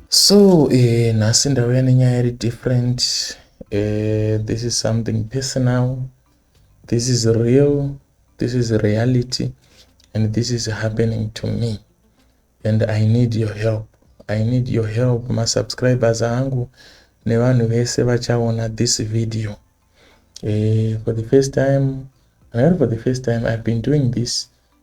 So eh, nhasi ndauya nenyaya iri different eh, this is something personal this is real this is reality and this is happening to me and i need your help i need your help masubscribers angu nevanhu vese vachaona this video eh, for the first time not for the first time i've been doing this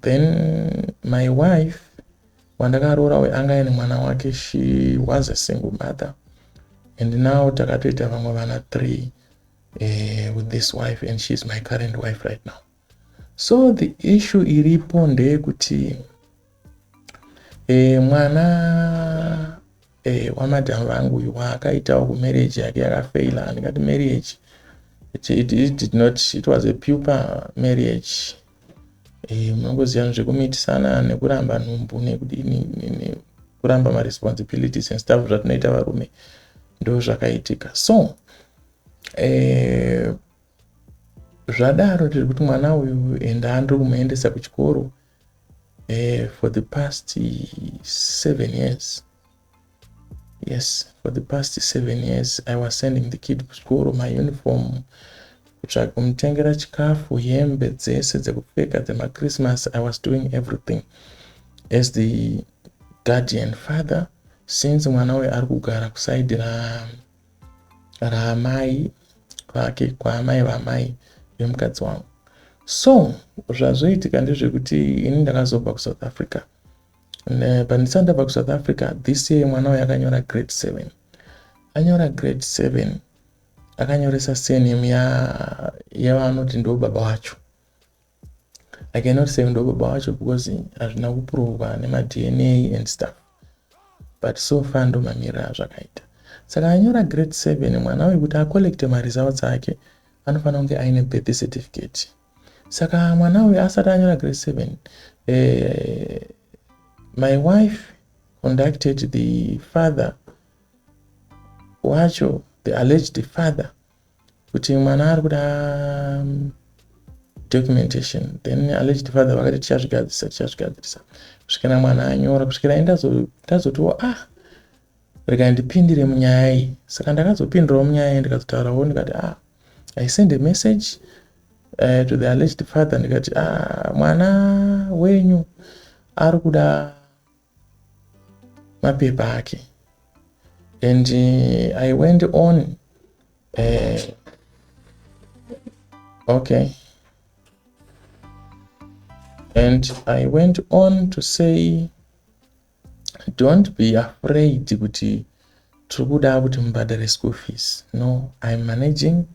Then my wife wandakaroora uyu anga aine mwana wake she was a single mother and now takatoita vamwe vana three uh, with this wife and she is my current wife right now so the issue iripo ndeyekuti uh, mwana uh, eh, wamadhamu vangu uyu waakaitawo kumarriage yake yakafaila andingati marriage it, it, it did not it was a puper marriage eh, munongoziva zvekumitisana nekuramba nhumbu nekudini nekuramba maresponsibilities and stuff zvatinoita varume ndo zvakaitika so eh, zvadaro tiri kuti mwana uyu and andiri kumuendesa kuchikoro eh, for the past seven years Yes for the past seven years I was sending the kid kuchikoro mauniform kutsvaga kumutengera chikafu hembe dzese dzekupfeka dzemachristmas I was doing everything as the guardian father since mwana uyu ari kugara kusaidi raamai vake kwaamai vamai vemukadzi wangu so zvazoitika ndezvekuti ini ndakazobva kusouth africa pandisati ndabva kusouth africa this year mwana uyo akanyora grade seven anyora grade seven akanyoresa surname yavanoti ndo baba wacho i cannot say ndo baba wacho because hazvina kuprovwa nemadna and stuff but so far ndo mamirira azvakaita saka anyora grade seven mwana uyu kuti acollecte maresults ake anofanira kunge aine birth certificate saka mwana uyu asati anyora grade seven uh, my wife conducted the father wacho the alleged father kuti mwana ari kuda um, documentation then alleged father vakati tichazvigadzirisa tichazvigadzirisa kusvikira mwana anyora kusvikira ndazotiwo ah Rega ndipindire munyaya iyi. Saka ndakazopindirawo munyaya iyi ndikatotaurawo ndikati ah I send a message uh, to the alleged father ndikati ah mwana wenyu ari kuda mapepa ake and uh, I went on uh, okay and I went on to say Don't be afraid kuti tiri kuda kuti mubhadhare school fees. No, I'm managing,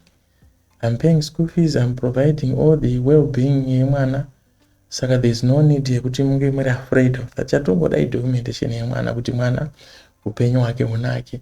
I'm paying school fees, I'm providing all the well-being yemwana. Saka there's no need yekuti munge muri afraid of that. Chatongoda idocumentation yemwana kuti mwana upenyu hwake hunake.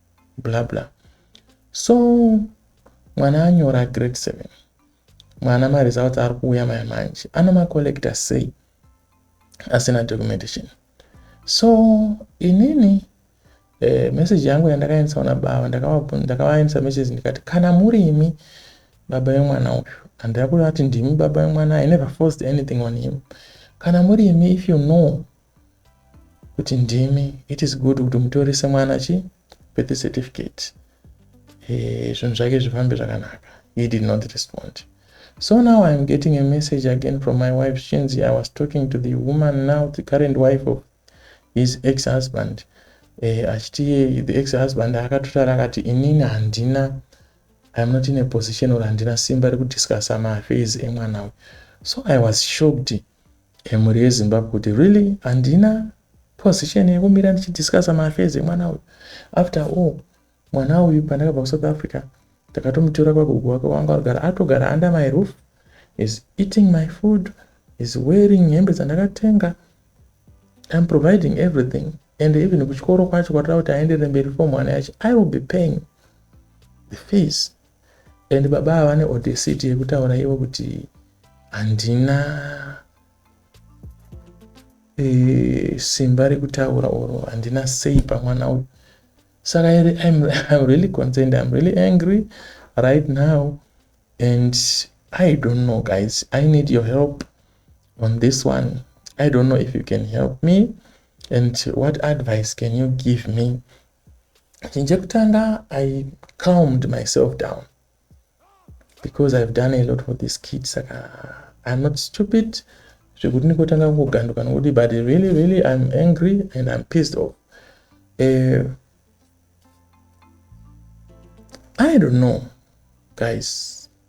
bla bla so mwana anyora grade 7 mwana maresults ari kuuya maya manje anomacollecta sei asina documentation so inini eh, message yangu yandakaendesa kuna baba ndakavaendesa message ndikati kana muri imi baba vemwana uyu handira kuvati ndimi baba vemwana i never forced anything on him kana muri imi if you know kuti ndimi it is good kuti mutorise mwana chi birth certificate eh, zvinhu zvake zvifambe zvakanaka he did not respond so now iam getting a message again from my wife chinzi i was talking to the woman now the current wife of his ex husband eh, achiti the ex husband akatotara akati inini handina iam not in a position or handina simba rekudiscussa maaffairs emwana uyu so i was shocked Emhuri yeZimbabwe kuti really handina position yekumira ndichidiscussa maaffairs emwana uyu. After all, mwana uyu pandakabva kuSouth Africa takatomutora kwagogo wake wanga agara atogara under my roof is eating my food is wearing hembe dzandakatenga I'm providing everything and even kuchikoro kwacho kwatoda kuti aenderere mberi for mwana yacho I will be paying the fees and baba ava vane audacity yekutaura ivo kuti handina e, simba rekutaura or handina sei pamwana uyu saka iri I'm, I'm really concerned I'm really angry right now and I don't know guys I need your help on this one I don't know if you can help me and what advice can you give me chinhu chekutanga i calmed myself down because i've done a lot for this kid saka i'm not stupid zvekuti ndikotanga kungoganduka nokuti but really really i'm angry and i'm pissed off uh, i don't know guys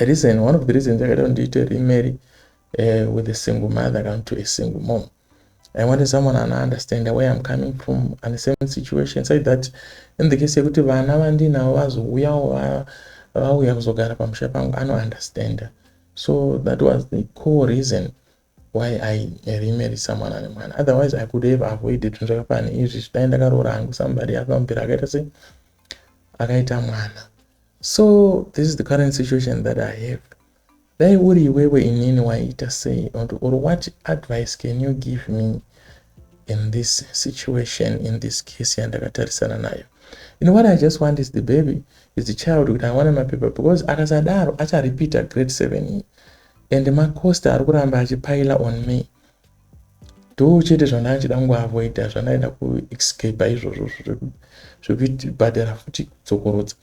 reason one of the reasons yakaita kuti ndiite remarry uh, with a single mother kana to a single mom i wanted someone ana understand where i'm coming from and the same situation said that in the case yekuti vana vandinavo vazouyawo vauya kuzogara pamusha pangu anounderstanda so that was the core reason why i remarry someone ane mwana otherwise i could have avoided zvinhu zvakafana izvi zvidai ndakaroora hangu somebody akambira akaita sei akaita mwana so this is the current situation that i have dai uri iwewe inini waiita sei or what advice can you give me in this situation in this case yandakatarisana nayo you know what i just want is the baby is the child kuti awane mapepa because akasadaro acharepeata grade seven iyi and macost ari kuramba achipile on me do chete zvandanga ndichida kungoavoida zvandaida kuescapa izvozvo zvekubhadhara futi kudzokorodza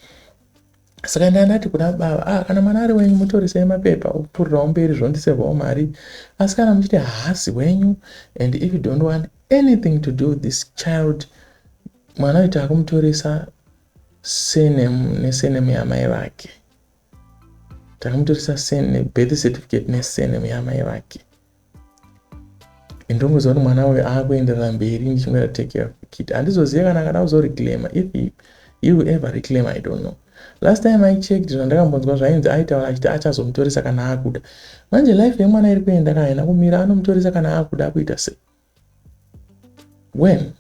saka ndanga ndati kuna baba ah, kana mwana ari wenyu mutorisei mapepa opfurirao mberi zvondisevhao mari asi kana muchiti haasi wenyu and if you don't want anything to do this child mwana uita akumutoresa senemu nesenemu yamai vake takamutoresa surname birth certificate nesurname yamai vake ndongoziva kuti mwana uyu akuenderera mberi ndichingoita take care of the kid handizozive kana akada kuzoreclaima if he, he will ever reclaim i don't know last time i checked zvandakambonzwa zvainzi aitaura achiti achazomutoresa kana akuda manje life yemwana iri kuenda kana haina kumira anomutoresa kana akuda akuita sei Well,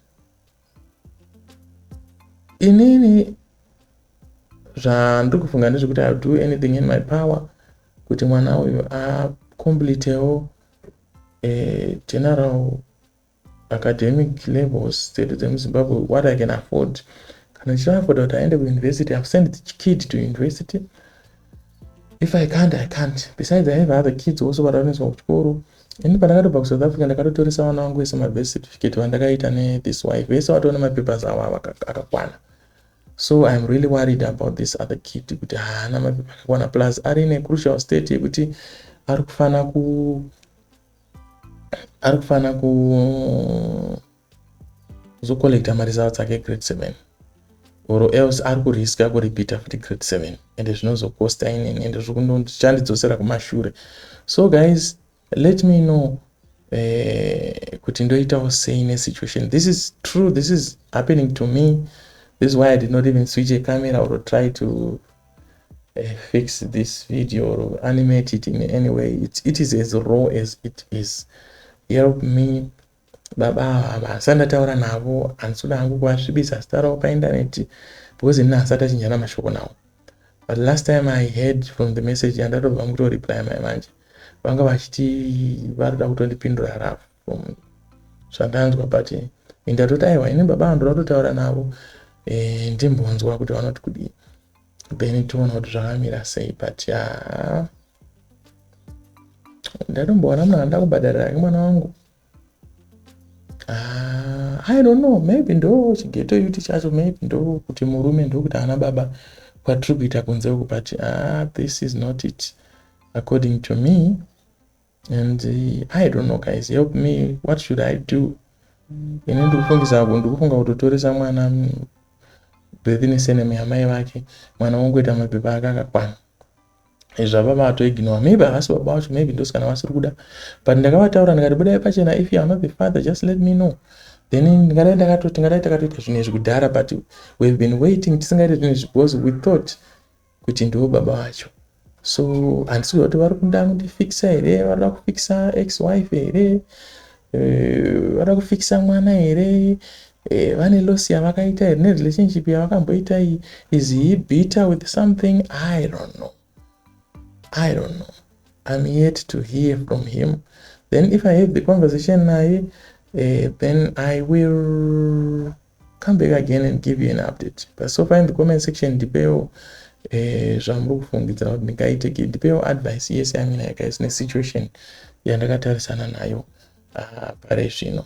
inini zvandiri kufunga ndezvekuti ill do anything in my power kuti mwana uyu acomplitewo eh, general academic levels dzedu dzemuzimbabwe what i can afford kana ndichiafoda kuti aende kuuniversity ive send the kid to university if i can't i can't besides i have other kids also varaoneswa kuchikoro ini pandakatobva kusouth africa ndakatotoresa vana vangu vese mabirth certificate vandakaita nethis wife vese vatoona mapapers avo avo akakwana so iam really worried about this other kid kuti haana mapepa akakwana plus ari ine crucial state yekuti ari kufanira ku ari kufanira ku kuzo collecta ma results ake grade 7 or else ari kuriska kuripita futi grade 7 and zvinozokosta inini and zvichandidzosera kumashure so guys let me know eh, kuti ndoitawo sei nesituation this is true this is happening to me this is why i did not even switch a camera or try to uh, fix this video or animate it in any way it, it is as raw as it is help me Baba ava havasi vandataura navo handisi kuda hangu kuvasvibisa zita ravo paindaneti because ini haasati achinjana mashoko navo but last time i heard from the message yandatobva mukutoreplya mai manje vanga vachiti vari kuda kutondipindura rafu from zvandanzwa but indatoti aiwa ini baba ava ndoda kutotaura navo eh, ndimbonzwa kuti vanoti kudii then tiona kuti zvakamira sei but ya ndatomboona munhu anoda kubhadharira ake mwana wangu ah, i don't know maybe ndo chigeto yuti chacho maybe ndo kuti murume ndokuti ana baba kwatiri kuita kunze uku but ah, this is not it according to me and uh, i don't know guys help me what should i do ini ndikufungisa apo ndikufunga kutotoresa mwana mm, birth neseneme yamai vake mwana wongoita mapepa ake akakwana zvava vatoignore maybe havasi baba vacho maybe ndosikana vasiri kuda but ndakavataura ndikati budai pachena if youare not the father just let me know then ndingadai ndakato tingadai takatoita zvinhu izvi kudhara but wehave been waiting tisingaite zvinhu izvi because we thought kuti ndiwo baba vacho so handisiziva kuti vari kuda kundifikisa here varida kufikisa ex wife here eh, varida kufikisa mwana here eh, vane loss yavakaita here nerelationship yavakamboita iyi is he bitter with something i don't know i don't know i'm yet to hear from him then if i have the conversation naye uh, then i will come back again and give you an update but so far in the comment section ndipeo eh, zvamuri kufungidzira kuti ndingaite ndipeo advice yese yaminayo guys nesituation yandakatarisana nayo ah, pare zvino